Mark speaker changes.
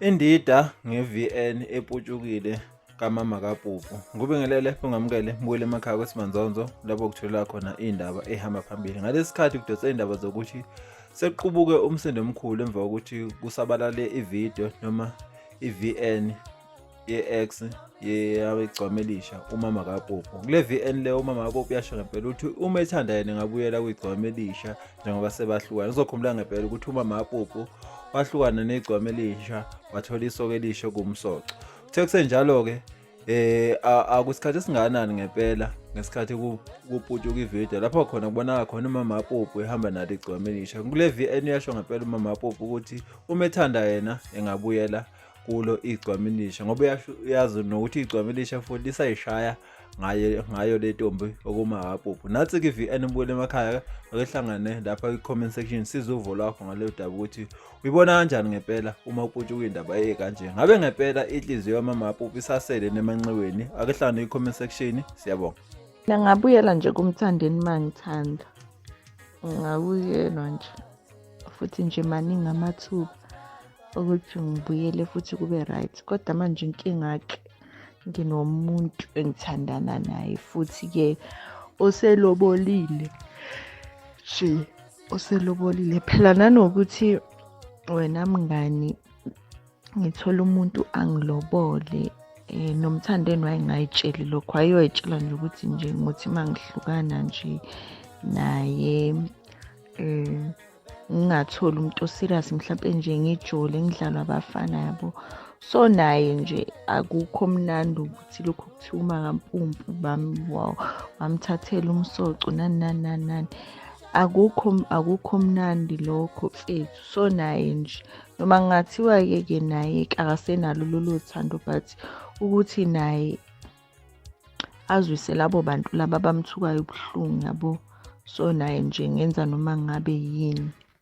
Speaker 1: Indida nge-VN eputshukile kamama kaPupu. Ngubingelele ungamukele mbuyele emakhaya kweSimanzonzo lapho kutholela khona indaba ehamba phambili. Ngalesi sikhathi kudonsa indaba zokuthi sekuqubuke umsindo omkhulu emva kokuthi kusabalale ividiyo noma i-VN ye-ex yabegcwamelisha umama kapopo kule vn le umama kapopo uyasho ngempela ukuthi uma ethanda yena engabuyela kwigcwamelisha njengoba sebahlukana uzokhumbula ngempela ukuthi umama kapopo wahlukana negcwamelisha wathola isoke elisho kumsoco kuthe kusenjalo-ke eh akusikhathi esinganani ngempela ngesikhathi kuputshuka ivideo lapho khona kubonaka khona umama apopo ehamba nalo igcwamelisha kule vn uyasho ngempela umama apopo ukuthi uma ethanda yena engabuyela kulo igcwamilisha ngoba uyazi nokuthi igcwamilisha futhi lisayishaya ngayo ngayo le ntombi okumahapuphu nathi ke VN ubuyele emakhaya akehlangane lapha kwi-comment section siza uvo lwakho ngaleyo daba ukuthi uyibona kanjani ngempela uma uputshe kuyindaba eye kanje ngabe ngempela inhliziyo yamamahapuphu isasele nemanxiweni akehlangane kwi-comment section siyabonga ngingabuyela
Speaker 2: nje kumthandeni uma ngithanda ngingabuyelwa nje futhi nje maningi amathuba ukuthi ngibuyele futhi kube right kodwa manje inkinga-ke nginomuntu engithandana naye futhi-ke oselobolile nje oselobolile phela nanokuthi wena mngani ngithola umuntu angilobole eh nomthandeni wayengayitsheli lokho ayoyitshela nje ukuthi nje ngothi mangihlukana nje naye eh ngingatholi umuntu oserious mhlawumbe nje ngijole ngidlalwa abafana yabo so naye nje akukho mnandi ukuthi lokhu kuthiwa uma kampumpu bamthathela umsoco nani nani nani nani akukho akukho mnandi lokho mfethu so naye nje noma kungathiwa-ke ke naye akasenalo lolo thando but ukuthi naye azwise labo bantu laba abamthukayo ubuhlungu yabo so naye nje ngenza noma ngabe yini